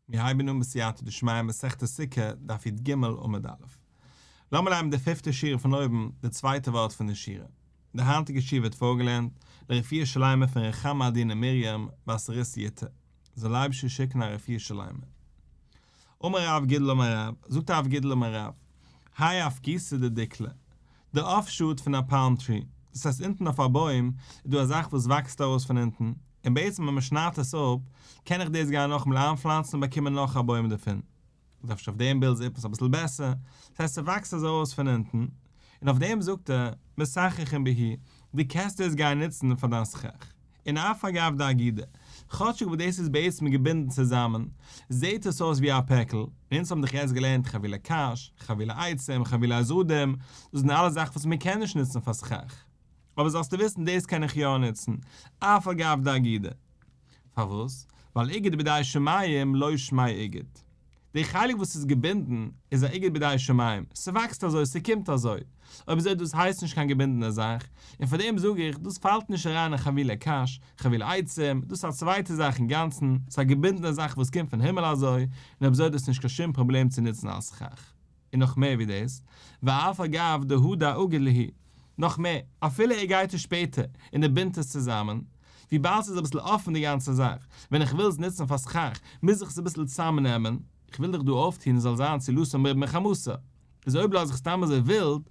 מיר הייבן אן בסייעתא דשמיא מסכת סוכה, דף יט ג, עמוד א'. לאמיר לייענען די פיפטע שורה פון אויבן, די צווייטע ווארט פון די שורה. די היינטיגע שיר ווערט פארגעלערנט לרפואה שלימה פון רחמא עדינה מרים בת ר' סיעתא, זאל לייבישע שיקן א רפואה שלימה. אמר רב גידל אמר רב, זאגט הרב גידל אמר רב, האי אפקיסא דדיקלא, די אפשאט פון א פאלם טרי, דאס הייסט אונטן אויף א בוים איז דא א זאך וואס וואקסט ארויס פון אונטן, און בעצם ווען מען שניידט עס אפ קען איך דאס גיין נאכאמאל איינפלאנצן און באקומען נאך א בוים דערפון, זאגט ער אפשר אויף דעם בילד איז עפעס אביסל בעסער, דאס הייסט ס'וואקסט אזוי ארויס פון אונטן, און אויף דעם זאגט ער, משחך אין בהיר, דו קענסט דאס גיין נוצן פאר דיין סכך, און אף אגב די אגודה, כאטשיג וואס דאס איז בעצם געבינדן צוזאמען, זעהט עס אויס ווי א פעקל, און אונז האבן דאך יעצט געלערנט חבילה קש, חבילה עצם, חבילה אזאדים, דאס זענען אלעס זאכן וואס מען קען נישט נוצן פאר סכך. אבער זאלסטו וויסן דאס קען איך יא נוצן, אף אגב די אגודה. פארוואס? ווייל איגוד בידי שמים לא שמי איגוד. די חלק וואס איז געבינדן איז א איגרת בידי שמים, ס'וואקסט אזוי, ס'קומט אזוי, אויב אזוי דאס הייסט נישט קיין געבינדענע זאך, און פאר דעם זאג איך, דאס פאלט נישט אריין אין חבילי קש, חבילי עצים, דאס איז א צווייטע זאך אינגאנצן, ס'איז א געבינדענע זאך וואס קומט פון הימל אזוי, און אויב אזוי דאס איז נישט קיין שום פראבלעם צו נוצן אלס סכך. און נאך מער ווי דאס, ואף אגב דהוא דא אגיד להי', נאך מער, אפילו ער גייט עס שפעטער און ער בינדט עס צוזאמען, וויבאלד ס'איז אביסל אפן די גאנצע זאך, ווען איך וויל עס נוצן פאר סכך, מוז איך עס אביסל צוזאמנעמען, איך וויל דאך דא אויפטון עס זאל זיין צו לסור מרבים מחמסה, איז אויב לאז איך סתם אזוי ווילד,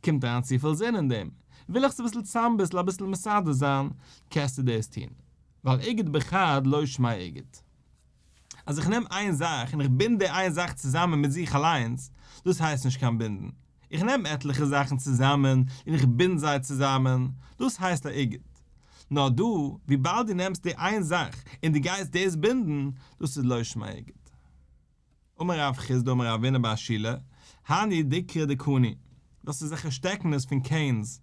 קומט אריין צופיל זון אין דעם, וויל איך עס אביסל צוזאמביסל אביסל מסדר זיין, קענסטו דאס טון, ווייל איגוד בחד לא שמאי איגוד. אז איך נעם איין זאך און איך בינד די איין זאך צוזאמען מיט זיך אליינס, דאס הייסט נישט קיין בינדן. איך נעם עטליכע זאכן צוזאמען און איך בינד זיי צוזאמען, דאס הייסט א איגוד. נאר דא, וויבאלד דו נעמסט די איין זאך און דו גייסט דאס בינדן, דאס איז לשם האיגוד. אמר רב חסדא אמר רבינא בר שילא, הני דקרא דקני, דאס איז זיכער שטעקענעס פון קענס,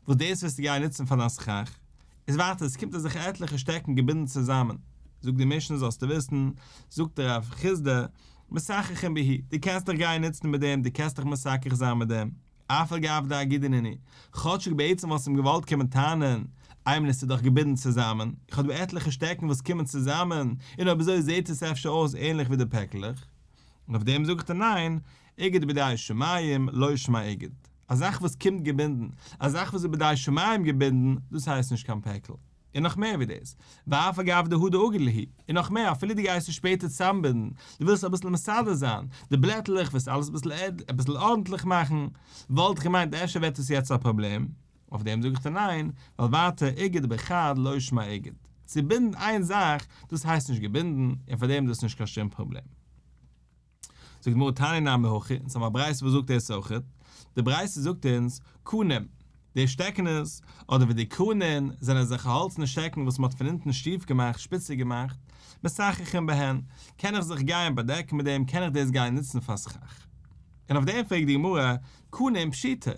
וואס דאס וועסטו גייען נוצן פאר דיין סכך, איז ווייטער עס קומט דיר זיכער עטליכע שטעקן געבינדן צוזאמען, זאגט די משנה זאלסטו וויסן, זאגט רב חסדא, משחחין ביהי, דו קענסט דיך גייען נוצן מיט דעם, דו קענסט דיך משחח זיין מיט דעם. אף על גב דאי גידינני, כאטשיג בעצם וואלסט אים געוואלט קומען טענה'ן, איי מען איז צו דאך געבינדן צוזאמען, איך האב דא עטליכע שטעקן וואס קומען צוזאמען, און אויב אזוי זעהט עס אפשר אויס ענליך ווי די פעקלעך. און אויף דעם זאגט ער ניין, איגוד בדאי שמים, לא שמה איגוד. א זאך וואס קומט געבינדן, א זאך וואס איז בדאי שמים געבינדן, דאס הייסט נישט קיין פעקל. און נאך מער ווי דאס, ואף אגב דהא דאגה ליהי, און נאך מער, אפילו דו גייסט עס שפעטער צוזאמבינדן, דו ווילסט אביסל מסדר זיין די בלעטלעך, ווילסט אלעס אביסל ארנטליך מאכן, וואלט איך געמיינט אפשר ווערט דאס יעצט א פראבלעם, אויף דעם זאג איך דיר ניין, ווייל ווייטער איגוד באחד לא ישמע איגוד, צובינדן איין זאך, דאס הייסט נישט געבינדן, און פארדעם איז דאס נישט קיין שום פראבלעם. זאגט די גמרא תני נמי הכי, אונז האבן א ברייתא וואס זאגט דאס אויכעט, די ברייתא זאגט אונז, קנים, די שטעקענעס, אדער ווי די קנין, זענען אזעלכע האלצענע שטעקן וואס מען האט פון אונטן שטיף געמאכט, שפיציג געמאכט, משחחין בהן, קען איך זיך גייען באדעקן מיט דעם, קען איך דאס גייען נוצן פאר סכך. און אויף דעם פרעגט די גמרא, קנין פשיטא,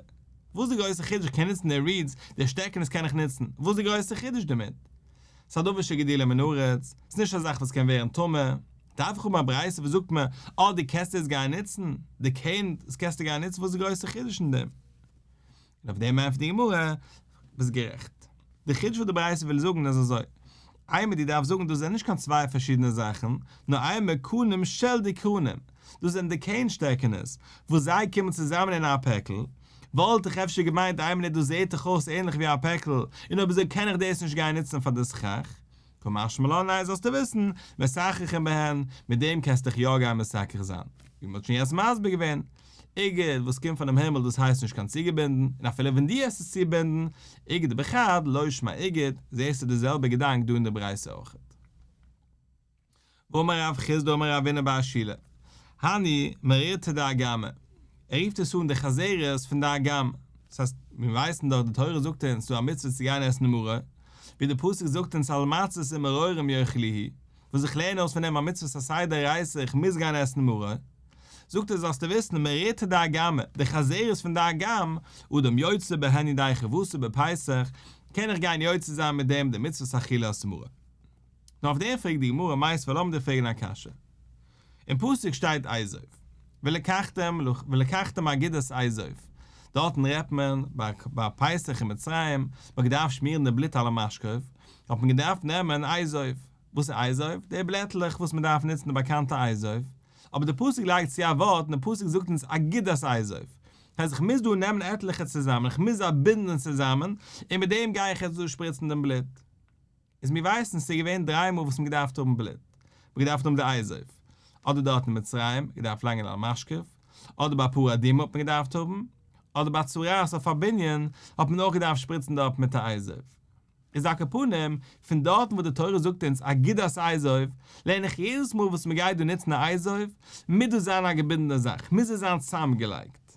וואס די גרויסע חידוש, איך קען נוצן די רידס, די שטעקענעס קען איך נוצן, וואס די גרויסע חידוש דערמיט? ס'איז א דבר שגדילה מן הארץ, ס'איז נישט א זאך וואס קען ווערן טמא. דארף איך האבן א ברייתא וואס זאגט מיר אז די קעסט איז גיין ניצן, די כהן איז קעסט גיין ניצן וואס איז די גרויסע חידוש אין דעם? און אויף דעם ענטפערט די גמרא, ביסט גערעכט. די חידוש וואס די ברייתא וויל זאגן איז אזוי, איי מען די דארף זאגן דאס זענען נישט קיין צוויי פארשידענע זאכן, נאר איי מען קנים של די כהנים, דאס זענען די כהן שטעקענעס וואס זיי קומען צוזאמען אין א פעקל, וואלט איך אפשר געמיינט איי מינוט דאס זעהט דאך אויס ענליך ווי א פעקל, און אויב אזוי קען איך דאס נישט גיין ניצן פאר די סכך, כמשמע לעיל זאלסטו וויסן, מסככים בהן, מיט דעם קענסטו דיך יא גיין מסכך זיין, ווי מען האט שוין יעצט מסביר געווען, איגרת וואס קומט פונעם הימל דאס הייסט נישט קיין צוגעבינדן, און אפילו ווען דו האסט עס צובינדן, איגרת בכד, לא שמע איגרת, זעסטו די זעלבע געדאנק דא אין די ברייתא אויך. אמר רב חסדא אמר רבינו בעל השילא, הני מרירתא דאגמא, ער רופט עס אן די חזרת פון די אגמ, דאס הייסט, מיר ווייסן דאך די תורה זאגט אונז ס'איז א מצוה צו גיין עסן מרור, ווי די פסוק זאגט אונז על מצות ומרורים יאכלי ה', וואס איך לערן אויס פון דעם א מצוות א סיי דאורייתא איך מוז גיין עסן מרור, זאגט ער זאלסטו וויסן מרירתא דאגמא, די חזרת פון די אגמ, אדם יוצא בה הני דיחי וואסער בפסח, קען איך גיין יוצא זיין מיט דעם די מצוות אכילת מרור. נאר אויף דעם פרעגט די גמרא מאי סבר לאמיר דיר פרעגן א קשיא. אין פסוק שטייט אייזויף ולקחתם ולקחתם אגודת אייזויף, דארטן רעדט מען ביי פסח אין מצרים, מען האט געדארפט שמירן די בלוט על המשקוף, האט מען געדארפט נעמען אייזויף. וואס איז אייזויף? די בלעטלעך וואס מען דארף נוצן די באקאנטע אייזויף. אבער די פסוק לייגט צו א ווארט און די פסוק זאגט אונז אגודת אייזויף. הייסט איך מוז דא נעמען עטליכע צוזאמען, איך מוז זיי בינדן צוזאמען, און מיט דעם גיי איך יעצט דא שפריצן דעם בלוט. איז מיר ווייסן ס'געווען דריי מאל וואס מען געדארפט האבן בלוט, מען געדארפט האבן די אייזויף, אדער דארט אין מצרים, געדארפט לאנגען על משכב, אדער ביי פרה אדומה האט מען געדארפט האבן, אדער ביי צרעת אויף א בנין האט מען אויך געדארפט שפריצן דארט מיט א אייזויף. איז א קאפנים, פון דארטן וואס די תורה זאגט אונז אגודת אייזויף, לערן איך יעדעס מאל וואס מען גייט דא נוצן א אייזויף, מוז דאס זיין א געבינדענע זאך, מוז עס זיין צוזאמגעלייגט.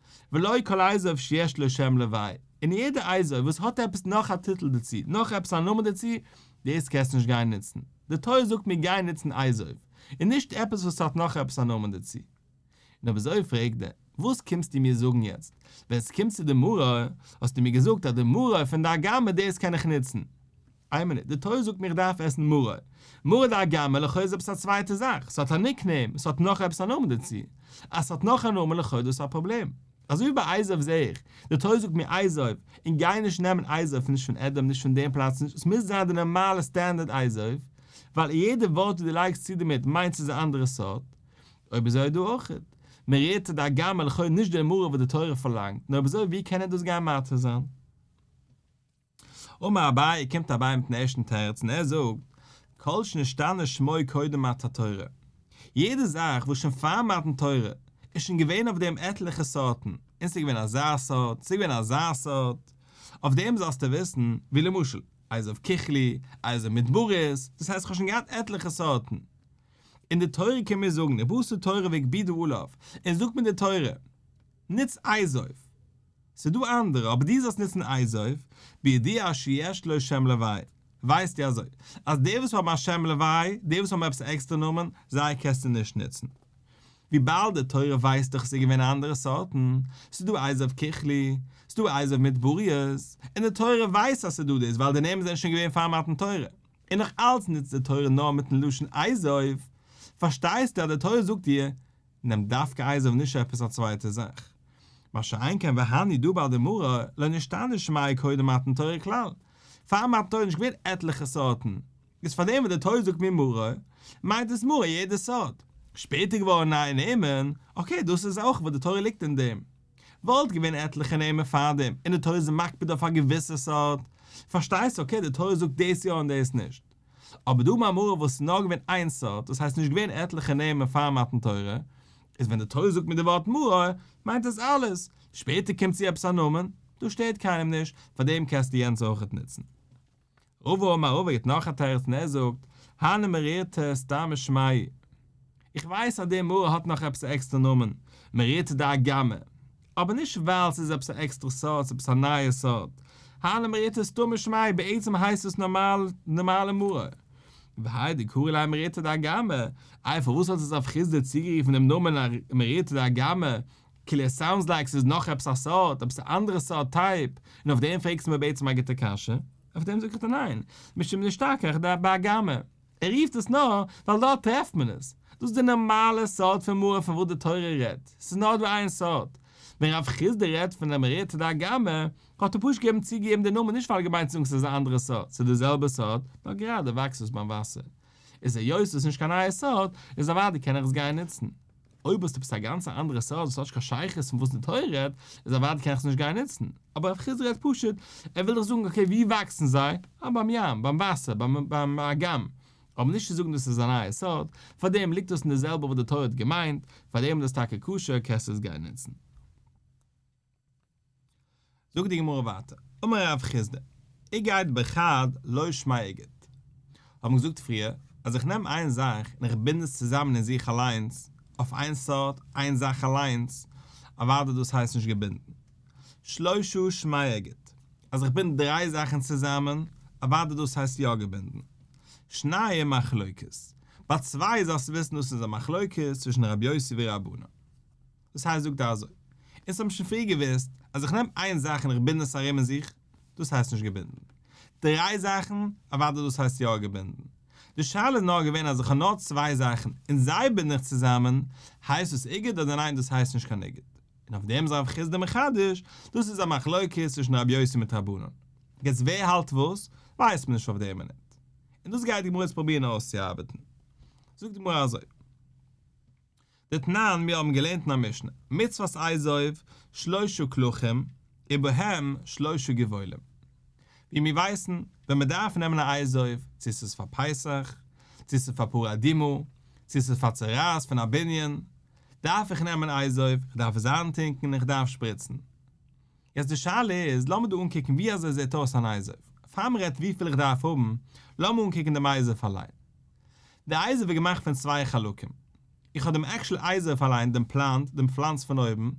ולא כל אזוב שיש לו שם לוואי, און יעדע אזוב וואס האט עפעס נאך א טיטל דערצו, נאך עפעס א נאמען דערצו, דאס קענסטו נישט גיין נוצן. די תורה זאגט מיר גיי נוצן אזוב, און נישט עפעס וואס האט נאך עפעס א נאמען דערצו. און אויב אזוי פרעגט דער, וואס קומסטו מיר זאגן יעצט? ווען ס'קומט צו די מראה, האסטו מיר געזאגט אז די מראה פון די הגמ' דאס קען איך נוצן. איין מינוט, די תורה זאגט מיר איך דארף עסן מרה. מרה דאגמא לכאו' איז עפעס א צווייטע זאך, ס'האט א ניק נעים, ס'האט נאך עפעס א נאמען דערצו. אז ס'האט נאך א נאמען לכאו' איז דאס א פראבלעם. אזוי ווי ביי אייזויף זעה איך, די תורה זאגט מיר אייזויף, און גיי נישט נעמען אייזויף נישט פון עדעם נישט פון דעם פלאץ נישט, עס מוז זיין די נארמאלע סטענדערד אייזויף, ווייל יעדע ווארט וואס דו לייגסט צו דערמיט מיינט ס'איז א אנדערע סארט. אויב אזוי איז דא אויך מרה דאגמא לכאו' נישט די מרה וואס די תורה פארלאנגט, נו אויב אזוי ווי קען ער דאס גיין מתיר זיין? אמר אביי, קומט אביי מיטן ערשטן תירוץ און ער זאגט, כל שנשתנה שמו קודם מתן תורה, יעדע זאך וואס שוין פאר מתן תורה איז שוין געווען אויף דעם עטליכע סארטן, און ס'איז געווען אזא סארט, ס'איז געווען אזא סארט, אויף דעם זאלסטו וויסן, ווי למשל, אייזעוו ככלי, אייזעוו מדברית, דאס הייסט איך האב שוין געהאט עטליכע סארטן. און די תורה קען מיר זאגן, עברת תורה והגבידו עליו, און זאגט מיר די תורה, נוץ אייזעוו. ס'דא אנדערע, אבער דו זאלסט נוצן אייזויף, בידיעה שיש לו שם לוי', ווייסטו אזוי, אז די וואס האבן א שם לוי', די וואס האבן עפעס א עקסטערע נאמען, זיי קענסטו נישט נוצן. וויבאלד די תורה ווייסט דאך עס איז געווען אנדערע סארטן, ס'דא אייזויף ככלי, ס'דא אייזויף מיט באריות, און די תורה ווייסט אז ס'דא דאס ווייל די נעמען זענען שוין געווען פאר מתן תורה. און נאך אלץ נוצט די תורה נאר מיטן לשון אייזויף, פארשטייסטו אז די תורה זאגט דיר, נעמט דווקא אייזער נישט עפעס א צווייטע זאך. מה שאין כן והני דא ביי די מרא, לא נשתנה שמיה קודם מתן תורה כלל. פאר מתן תורה איז נישט געווען עטליכע סארטן. איז פאר דעם וואס די תוס' זאגט מיר מרא, מיינט דאס מרא יעדע סארט. שפעטער געווארן נייע נעמען, אקעי דאס איז אויך וואס די תורה ליגט אין דעם. וואלט געווען עטליכע נעמען פאר דעם, און די תורה איז מקפיד אויף א געוויסע סארט. פארשטייסט? אקעי די תורה זאגט דאס יא און דאס נישט. אבער די מאמרים וואס איז נאר געווען איין סארט, דאס הייסט נישט געווען עטליכע נעמען פאר מתן תורה, איז ווען די תורה זאגט מיט די ווארט מראה, מיינט עס אלעס, שפעטער קומט צו עפעס א נאמען, דאס שטערט קיינעם נישט, פאר דעם קענסטו יענץ אויכעט נוצן. רבא אמר רבא גיט נאך א תירוץ און ער זאגט, הנה מראית סתם משמעי. איך ווייס אז די מרא האט נאך עפעס א עקסטער נאמען, מריעתא דאגמא, אבער נישט ווייל ס'איז עפעס א עקסטערע סארט, ס'איז עפעס א נייע סארט, הל' מריעתא סתא משמיא, בעצם הייסט עס נארמאל, די נארמאלע מרא. והאי דקרי ליה מריעתא דאגמא, איי פארוואס האט עס אויף חסדא צוגערופן דעם נאמען מריעתא דאגמא, כאילו עס סאונדס לייק ס'איז נאך עפעס א סארט, עפעס א אנדערע סארט טייפ, און אויף דעם פרעגסטו מיר בעצם א גוטע קשיא, אויף דעם זאג איך דיר ניין, משום דאשתקח דאגמא. ער רופט עס נאר ווייל דארט טרעפט מען עס, דאס איז די נארמאלע סארט פון מרה פון וואס די תורה רעדט, עס איז נאר דא איין סארט, ווען רב חיסדא רעדט פון דער מרעיתא דאגמא האט ער פשוט געבן צוגעגעבן די נאמען נישט ווייל ער האט געמיינט צו זאגן ס'איז א אנדערע סארט, ס'איז די זעלבע סארט נאר גראדע וואקסט עס ביים וואסער, איז היות עס איז נישט קיין נייע סארט איז אוודאי קען איך עס גיין נוצן. אויב האסטו עפעס א גאנץ אנדערע סארט וואס האט נישט קיין שייכות מיט וואס די תורה רעדט, איז אוודאי קען איך עס נישט גיין נוצן. אבער רב חיסדא רעדט פשוט, ער וויל דאך זאגן אקעי וואו וואקסן זיי? אה ביים ים, ביים וואסער, ביים א גמ'. אבער נישט צו זאגן דאס איז א נייע סארט, פארדעם ליגט דאס אין די זעלבע וואס די תורה האט געמיינט, פארדעם איז דאס טאקע כשר קענסטו עס גיין נוצן. זאגט די גמרא ווייטער, אמר רב חיסדא, איגד באחד לא שמאי איגד, האבן געזאגט פריער אז איך נעם איין זאך און איך בינד עס צוזאמען אין זיך אליינס, אויף איין סארט, איין זאך אליינס, אוודאי דאס הייסט נישט געבינדן. שלשה שמאי איגד, אז איך בינד דריי זאכן צוזאמען, אוודאי דאס הייסט יא געבינדן. שניים מחלוקת, ביי צוויי זאלסטו וויסן דאס איז א מחלוקת צווישן רב יוסי ורבנו. דאס הייסט זאגט ער אזוי, אונז האבן שוין פריער געוואוסט אז איך נעם איין זאך און איך בינד עס ארום אין זיך, דאס הייסט נישט געבינדן. דריי זאכן, אוודאי דאס הייסט יא געבינדן. די שאלה איז נאר געווען אז איך האב נאר צוויי זאכן און זיי בינד איך צוזאמען, הייסט דאס איגוד אדער ניין דאס הייסט נישט קיין איגוד. און אויף דעם איז הרב חיסדא מחדש, דאס איז א מחלוקת צווישן רבי יוסי מיט רבנן. יעצט ווער האלט וואס, ווייסט מען נישט אויף דער מינוט. און דאס גייט די גמרא יעצט פרובירן אויסצוארבעטן. זאגט די גמרא אזוי. דתנן, מיר האבן געלערנט אין א משנה, מצוות אייזויף שלשה כלכים ובהם שלשה גבולים. ווי מיר ווייסן, ווען מען דארף נעמען א אייזויף, צו ס'איז פאר פסח, צו ס'איז פאר פרו אדומו, צו ס'איז פאר צוררות פון א בנין, דארף איך נעמען אייזויף, איך דארף עס איינטונקן און איך דארף שפריצן. יעצט די שאלה איז, לאמיר דא אנקוקן ווי אזוי זעט אויס אן אייזער. פאר מען רעדט וויפיל איך דארף האבן, לאמיר אנקוקן דעם אייזער פארליין. די אייזער ווערט געמאכט פון צוויי חלקים. איך האב דעם עקשעל אייזער פארליין, דעם פלאנט, דעם פלאנץ פון אויבן,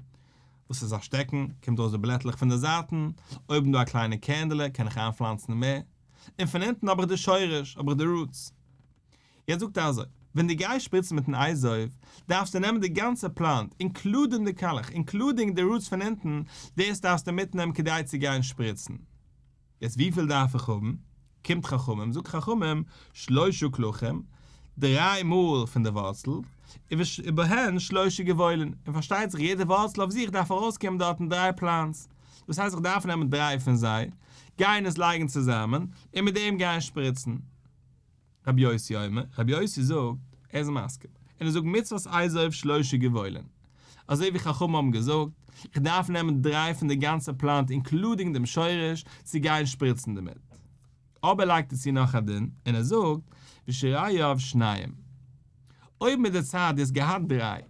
וואס איז א שטעקן, קומט ארויס די בלעטלעך פון די זייטן, אויבן דא א קליינע קענדעלע, קען איך איינפלאנצן מער, און פון אונטן האב איך די שורש, האב איך די רוטס. יעצט זאגט ער אזוי, ווען דו גייסט שפריצן מיטן אייזויף, דארפסטו נעמען די גאנצע פלאנט, אינקלודינג די קאלעך, אינקלודינג די רוטס פון אונטן, דאס דארפסטו מיטנעמען כדי צו גיין שפריצן. יעצט וויפיל דארף איך האבן? קומט חכמים, זאגט חכמים, שלשה קלחים, דריי מאל פון די ווארצל, ובהן שלשה גבעולין, און פארשטייט זיך יעדע ווארצל אויף זיך דארף ארויסקומען דארטן דריי פלאנטס, דאס הייסט איך דארף נעמען דריי פון זיי, גיין עס לייגן צוזאמען, און מיט דעם גיין שפריצן. רבי יוסי אומר, רבי יוסי זאגט, ער איז מסכים, און ער זאגט מצוות עשה אויף שלשה גבולים, אזוי ווי חכמים האבן געזאגט, איך דארף נעמען דריי פון די גאנצע פלאנט אינקלודינג דעם שורש צו גיין שפריצן דערמיט. אבער לייגט ער צו נאך א דין, און ער זאגט, ושרייו שניים, אויב מיט די צייט דו האסט געהאט דריי,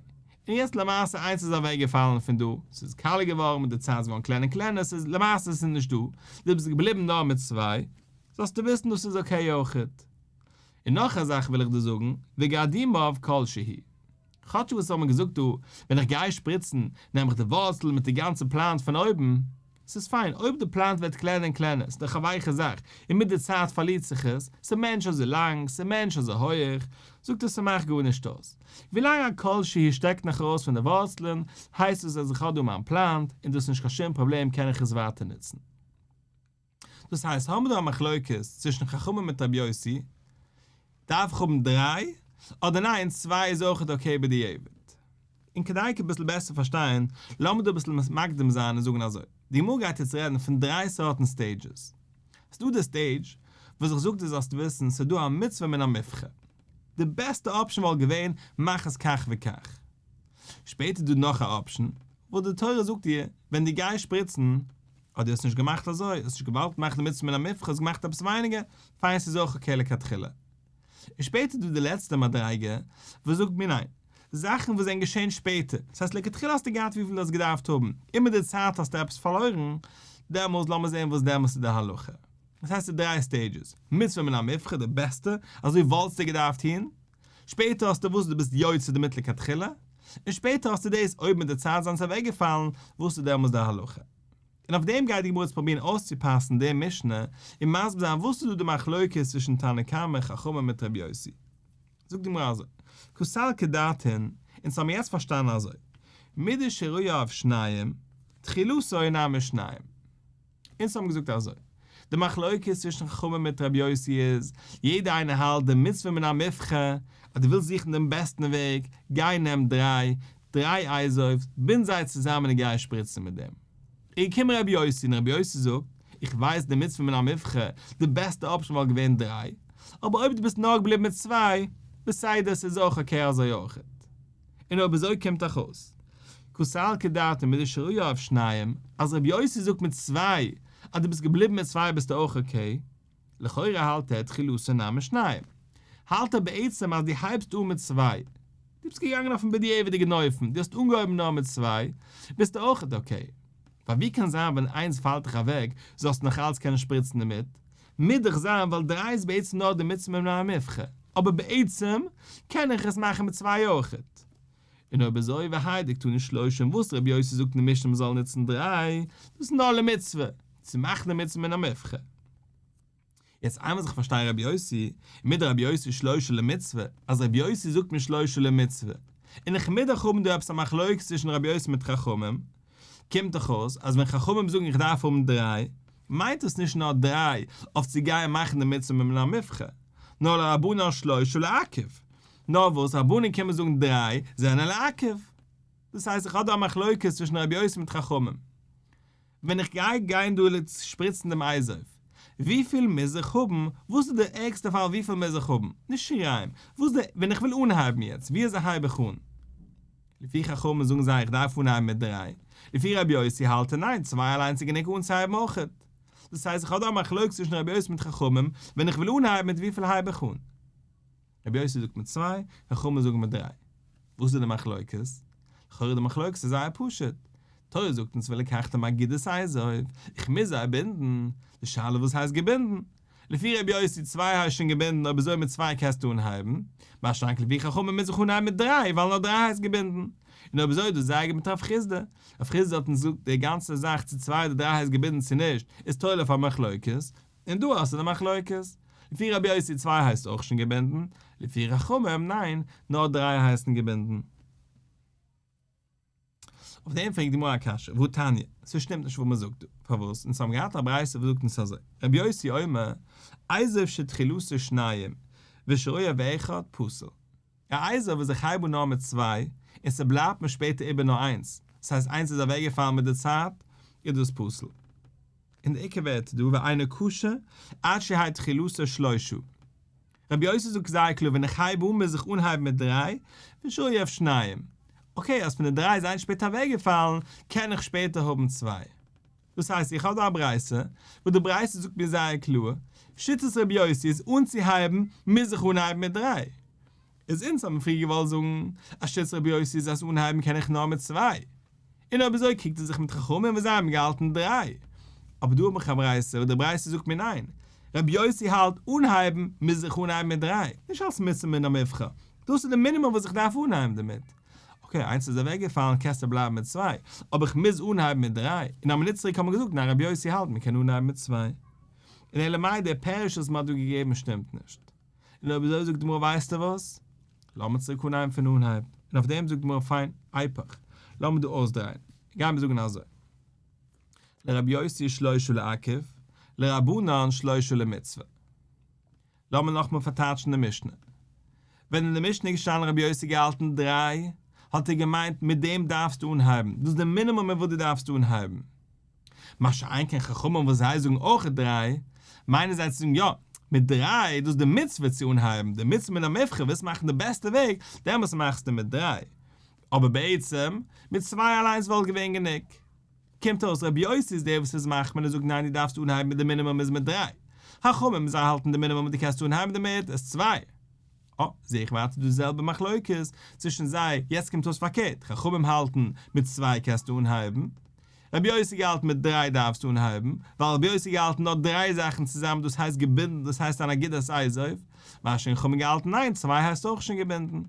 און יעצט למעשה איינס איז אוועק געפאלן פון דא, ס'איז קאלער געווארן, מיט די צייט איז געווארן קלענער און קלענער, ס'איז למעשה ס'איז נישט דא, דו ביסט געבליבן נאר מיט צוויי, זאלסטו וויסן דאס איז אקעי אויכעט. און נאך א זאך וויל איך דיר זאגן, וגערדים אויף כל שהי'. כאטש וואס עס האט מען געזאגט דא, ווען איך גיי שפריצן, נעם איך די ווארצל מיט די גאנצע פלאנט פון אויבן. עס איז פיין אויב די פלאנט ווערט קלענער און קלענער, עס איז דאך א ווייכע זאך, און מיט די צייט פארלירט זיך עס, עס איז מער נישט אזוי לאנג, עס איז מער נישט אזוי הויעך, זאגט ער ס'מאכט גארנישט אויס. ווילאנג א כל שהי' שטעקט נאך ארויס פון די ווארצלען, הייסט עס אז איך האב דא מיין פלאנט, און דאס איז נישט קיין שום פראבלעם קען איך עס ווייטער נוצן. דאס הייסט האבן מיר דא א מחלוקת צווישן חכמים מיט רבי יוסי, דארף איך האבן דריי, אדער ניין צוויי איז אויכעט אקעי בדיעבד? און כדי כ ביסל בעסער פארשטיין, לאמיר דא ביסל מקדים זיין און זאגן אזוי, די גמרא גייט יעצט רעדן פון דריי סארטן סטעידזשעס. ס'דא די סטעידזש וואס זיך זאגט דו זאלסט וויסן ס'איז דא א מצוה מן המובחר. די בעסטע אפשן וואלט געווען מאך עס כך וכך. שפעטער איז דא נאך א אפשן וואס די תורה זאגט דיר ווען דו גייסט שפריצן, אדער דו האסט נישט געמאכט אזוי, האסט נישט געוואלט מאכן די מצוה מן המובחר, האסט געמאכט עפעס ווייניגער, פיין ס'איז אויך אקעי לכתחילה. און שפעטער איז דא די לעצטע מדריגה וואס זאגט מיר ניין, זאכן וואס זענען געשען שפעטער, דאס הייסט לכתחילה האסטו געהאט וויפיל דו האסט געדארפט האבן, און מיט די צייט האסטו עפעס פארלוירן, דעמאלס לאמיר זען וואס דעמאלס איז די הלכה. דאס הייסט ס'איז דריי סטעידזשעס, מצוה מן המובחר די בעסטע, אזוי וואלטסטו געדארפט טון, שפעטער האסטו וואס דו ביסט יוצא די מיט לכתחילה, און שפעטער האסטו דאס אויב מיט די צייט זיינען זיי אוועקגעפאלן וואס איז דעמאלס די הלכה. און אויף דעם גייט די גמרא יעצט פרובירן אויסצופאסן די משנה און מסביר זיין וואס איז דא די מחלוקת צווישן תנא קמא חכמים מיט רבי יוסי. זאגט די גמרא אזוי, כסל כדתין, אונז האבן יעצט פארשטאנען אזוי, מידי שראיה אויף שניים, תחילתו אינה משניים. אונז האבן געזאגט אזוי, די מחלוקת צווישן חכמים מיט רבי יוסי איז, יעדער איינער האלט די מצוה מן המובחר, אז דו ווילסט זוכן דעם בעסטן וועג, גיי נעם דריי, דריי אייזויפס, בינד זיי צוזאמען און גיי שפריצן מיט דעם. איז געקומען רבי יוסי, און רבי יוסי זאגט, איך ווייס די מצוה מן המובחר, די בעסטע אפשן וואלט געווען דריי, אבער אויב דו ביסט נאר געבליבן מיט צוויי, בסדר, ס'איז אויך אקעי אזוי אויכעט. און אויב אזוי קומט דאך אויס כסל כדעתם מיט די שרויו אויף שניהם אז רבי יוסי זאגט מיט צוויי אז דו ביסט געבליבן מיט צוויי ביסטו אויך אקעי, לכאורה האלט ער תחילת שנה משניים, האלט ער בעצם אז דו הייבסט אן מיט צוויי, דו ביסט געגאנגען אויפן בדיעבד'יגן אופן, דו האסט אנגעהויבן נאר מיט צוויי, ביסטו אויך אקעי. ווייל ווי קען זיין ווען איינס פאלט דיך אוועק זאלסטו נאך אלץ קענען שפריצן דערמיט? מוז דאך זיין ווייל דרײַ איז בעצם נאר די מצוה ממנה המבחר, אבער בעצם קען איך עס מאכן מיט צוויי אויכעט. און אויב איז אויב והיידיק תנו שלושים וואס ר' יוסי זאגט אין משנה מ'זאל נוצן דרײַ, דאס איז נאר למצוה, צו מאכן די מצוה מן המבחר. יעצט איינמאל אז איך פארשטיי רבי יוסי, מיט די רבי יוסי שלושה למצוה, אז רבי יוסי זאגט מיר שלושה למצוה, און איך מיז דאך האבן דא עפעס א מחלוקת צווישן רבי יוסי מיט חכמים, קומט דאך אויס אז ווען חכמים זאגן איך דארף האבן דריי, מיינט עס נישט נאר דריי אויף צו גייען מאכן די מצוה ממילא מובחר, נאר לרבנן שלושה לעכב, נאר וואס רבנים קומען זאגן דריי זענען לעכב. דאס הייסט איך האב דא א מחלוקת צווישן רבי יוסי מיט חכמים. ווען איך גיי גיין דא לץ שפריצן דעם אייז אויף וויפיל מוז איך האבן? וואס איז דער ערגסטע פאל וויפיל מוז איך האבן? נישט שריים. וואס איז דער ווען איך וויל אנהייבן יעצט ווי אזוי הייב איך אן? לפי חכמים זאגן זיי איך דארף אנהייבן מיט דריי. לפי רבי יוסי האלט ער ניין צוויי אליינס איז גענוג אנצוהייבן אויכעט. דאס הייסט איך האב דא א מחלוקת צווישן רבי יוסי מיט חכמים ווען איך וויל אנהייבן מיט וויפיל הייב איך אן? רבי יוסי זאגט מיט צוויי, חכמים זאגן מיט דריי. וואס איז די מחלוקת? לכאורה די מחלוקת איז זייער פשוט. תורה זאגט אונז ולקחתם אגודת אייזויף, איך מוז זיי בינדן. די שאלה וואס הייסט געבינדן? לפי רבי יוסי צוויי הייסט שוין געבינדן אויב אזוי מיט צוויי קענסטו אנהייבן, מה שאנק לפי חכמים מוז איך אנהייבן מיט דריי ווייל נאר דריי הייסט געבינדן. און אויב אזוי דאס איז די ארגומענט הרב חיסדא. הרב חיסדא האט אונז געזאגט די גאנצע זאך צו צוויי אדער דריי הייסט געבינדן צו נישט איז תולה אויף א מחלוקת. און דא האסטו די מחלוקת. לפי רבי יוסי צוויי הייסט אויך שוין געבינדן, לפי חכמים ניין, נאר דריי הייסן געבינדן. אויף דעם פרעגט די גמרא א קשיא, והא תניא, ס'שטימט נישט וואס מ'זאגט דא, פארוואס? אונז האבן געהאט א ברייתא וואס זאגט אונז אזוי, רבי יוסי אומר, עזוב שתחילתו שניים, ושרויו אחד, פסול. ר' אייזל וואס זיי חייבו נאר מיט צוויי, און ס'בלייבט מיר שפעטער איבער נאר איינס, ס'הייסט איינס איז אוועקגעפאלן מיט די צייט, איז דאס פסול. און די עיקר ווערט דא ואינו קשה עד שיהי' תחילתו שלושה. רבי יוסי זאגט זייער קלאר ווען איך הייב אן מוז איך אנהייבן מיט דריי, ושאולי אויף שניים. אקעי אז פון די דריי איז איינס שפעטער אוועקגעפאלן, קען איך שפעטער האבן צוויי. דאס הייסט איך האב דא א ברייתא, וואס די ברייתא זאגט מיר זייער קלאר, שיטת רבי יוסי איז אנצוהייבן מוז איך אנהייבן מיט דריי, איז אונז האבן פריער געוואלט זאגן אז שיטת רבי יוסי איז אז אנהייבן קען איך נאר מיט צוויי, און אויב אזוי קריגט ער זיך מיט חכמים וואס זיי האבן געהאלטן דריי, אבער דא האב איך א ברייתא וואס די ברייתא זאגט מיר ניין, רבי יוסי האלט אנהייבן מוז איך אנהייבן מיט דריי, נישט אלס מצוה מן המובחר, דאס איז די מינימום וואס איך דארף אנהייבן דערמיט, אקעי, איינס איז אוועקגעפאלן, קענסטו בלייבן מיט צוויי, אבער איך מוז אנהייבן מיט דריי, און א מינוט צוריק האט מען געזאגט ניין רבי יוסי האלט מען קען אנהייבן מיט צוויי, און אלא מאי דער פירוש וואס מען האט דא געגעבן שטימט נישט, און אויב אזוי זאגט די גמרא ווייסטו וואס, לאמיר צוריק אנהייבן פון אנהייב, און אויף דעם זאגט די גמרא פיין, אייפעך, לאמיר דא אויסדרייען, גיימיר זאגן אזוי, לרבי יוסי שלושה לעכב, לרבנן שלושה למצוה. לאמיר נאכמאל פארטייטשן די משנה. ווען אין די משנה איז געשטאנען רבי יוסי געהאלטן דריי, האט ער געמיינט מיט דעם דארפסטו אנהייבן, דאס איז די מינימום מיט וואס דו דארפסט אנהייבן. מה שאין כן חכמים וואס זיי זאגן אויך דריי, מיינען זיי צו זאגן יא, מיט דריי, דאס איז די מצוה צו אנהייבן, די מצוה מן המובחר, ווילסט מאכן די בעסטע וועג, דעמאלטס מאכסטו מיט דריי. אבער בעצם, מיט צוויי אליינס וואלט געווען גענוג. קומט אויס רבי יוסי איז דער וואס איז מחמיר און זאגט ניין דו דארפסט אנהייבן מיט די מינימום איז מיט דריי חכמים זיי האלטן די מינימום אז דו קענסט אנהייבן דערמיט איז צוויי. אה, זע איך ווייטער דאס זעלבע מחלוקת צווישן זיי, יעצט קומט אויס פארקערט, חכמים האלטן מיט צוויי קענסטו אנהייבן, רבי יוסי געהאלטן מיט דריי דארפסטו אנהייבן, ווייל רבי יוסי געהאלטן נאר דריי זאכן צוזאמען דאס הייסט געבינדן דאס הייסט אן אגודת אייזויף, ווייל שוין חכמים געהאלטן ניין צוויי הייסט אויך שוין געבינדן.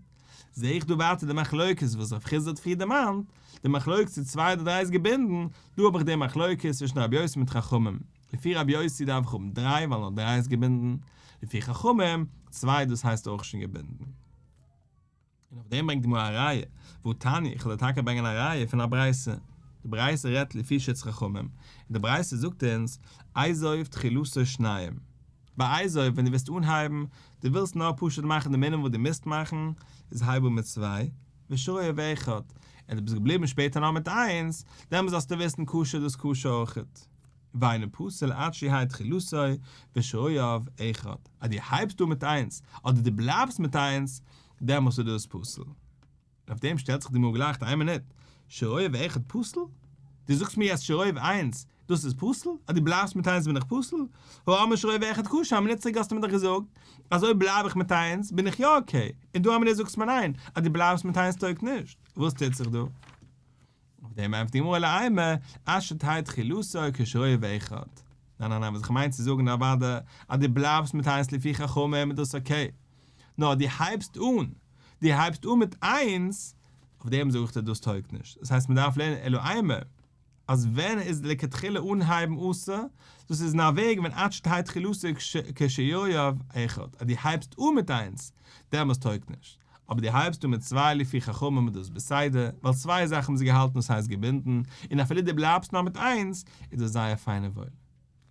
זעה איך דא ווייטער די מחלוקת וואס רב חיסדא האט פריער דערמאנט, די מחלוקת צו צוויי אדער דריי איז געבינדן, דא האב איך די מחלוקת צווישן רבי יוסי מיט חכמים, לפי רבי יוסי דארף איך האבן דריי ווייל נאר דריי איז געבינדן, לפי חכמים, צוויי דאס הייסט אויך שוין געבינדן. און אויף דעם ברענגט די גמרא א ראיה, והוא תני, איך וועל דיר טאקע ברענגען א ראיה פון א ברייתא, די ברייתא רעדט לפי שיטת חכמים, און די ברייתא זאגט אונז, אייזאויף תחילתו שניים. בעיזוי ווען דו וועסט אנהייבן, דו ווילסט נאר פשוט מאכן די מנין וואס דו מוזט מאכן, איז הייב אן מיט צוויי, ושאוה ואחד, און דו ביסט געבליבן שפעטער נאר מיט איינס, דעמאלס זאלסטו וויסן קשה דאס קשה אויכעט, ואינו פוסל עד שיהי' תחילתו ושאוה ואחד, אז דו הייבסט אן מיט איינס, אדער דו בלייבסט מיט איינס, דעמאלס איז דאס פסול. אויף דעם שטעלט זיך די מאגעל לייכט איין מינוט, שרייב אחד פסול? דו זאגסט מיר יעצט שרייב איינס דאס איז פסול? אז דו בלייבסט מיט איינס בין איך פסול? הא אמר שרייב אחד כשר א מינוט צוריק האסטו מיר דאך געזאגט אז אויב בלייב איך מיט איינס בין איך יא אקעי און דא א מינוט זאגסטו מיר ניין אז דו בלייבסט מיט איינס טויג נישט, וואס טוט זיך דא? אויף דעם ענטפערט די גמרא אלא אימא אשת היד חילוסא כשרויע ואיכות, ניין ניין ניין וואס איך מיין צו זאגן אוודאי אז דו בלייבסט מיט איינס לפי חכמים איז דאס אקעי, נאר דו הייבסט אן דו הייבסט אן מיט איינס, אויף דעם זאג איך דיר דאס טויג נישט, דאס הייסט מען דארף לערנען אלא אימא אז ווען איז לכתחילה אנהייבן אסור, דאס איז אין א וועג ווען אשת היד חילוסא כשרויע ואיכות, אז דו הייבסט אן מיט איינס דעמאלס טויג נישט. אבער דו הייבסט אן מיט צוויי לפי חכמים איז דאס בסדר, ווייל צוויי זאכן האבן זיי געהאלטן וואס הייסט געבינדן, און אפילו דו בלייבסט נאר מיט איינס, איז דאס זייער פיין און וואויל.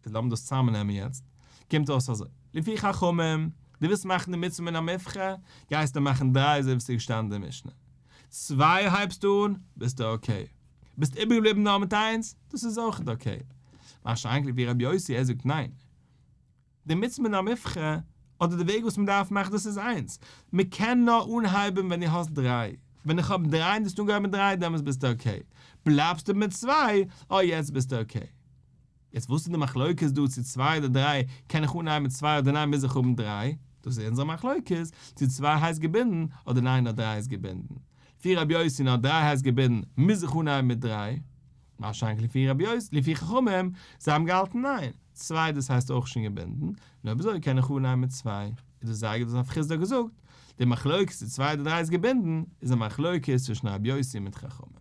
איז לאמיר דאס צוזאמנעמען יעצט, קומט אויס אזוי, לפי חכמים, דו ווילסט מאכן די מצוה מן המובחר, גייסטו מאכן דריי אזוי ווי ס'איז געשטאנען אין די משנה. צוויי הייבסטו אן, ביסטו אקעי. ביסט איבערגעבליבן נאר מיט איינס, דאס איז אויכעט אקעי. מה שאין כן לפי רבי יוסי, ער זאגט ניין. די מצוה מן המובחר אדער די וועג וואס מען דארף מאכן דאס איז איינס, מען קען נאר אנהייבן ווען דו האסט דריי, ווען איך האב דריי און דו האסט אנגעהויבן מיט דריי דעמאלטס ביסטו אקעי, בלייבסטו מיט צוויי אוי יעצט ביסטו אקעי. יעצט וואס איז די מחלוקת דא צו צוויי אדער דריי, קען איך אנהייבן מיט צוויי אדער ניין מוז איך האבן דריי, דאס איז אונזער מחלוקת, צו צוויי הייסט געבינדן אדער ניין נאר דריי איז געבינדן, לפי רבי יוסי נאר דריי הייסט געבינדן מוז איך אנהייבן מיט דריי. מה שאנכ לפי רבי יוסף לפי חכמים, זיי האבן געהאלטן ניין, צוויי דאס הייסט אויך שוין געבינדן, נו ווי אזוי קען איך אן ניין מיט צוויי, איז דאס זייער גוט וואס הרב חיסדא האט געזאגט, די מחלוקת צו צוויי אדער דריי איז געבינדן, איז א מחלוקת צווישן רבי יוסי מיט חכמים.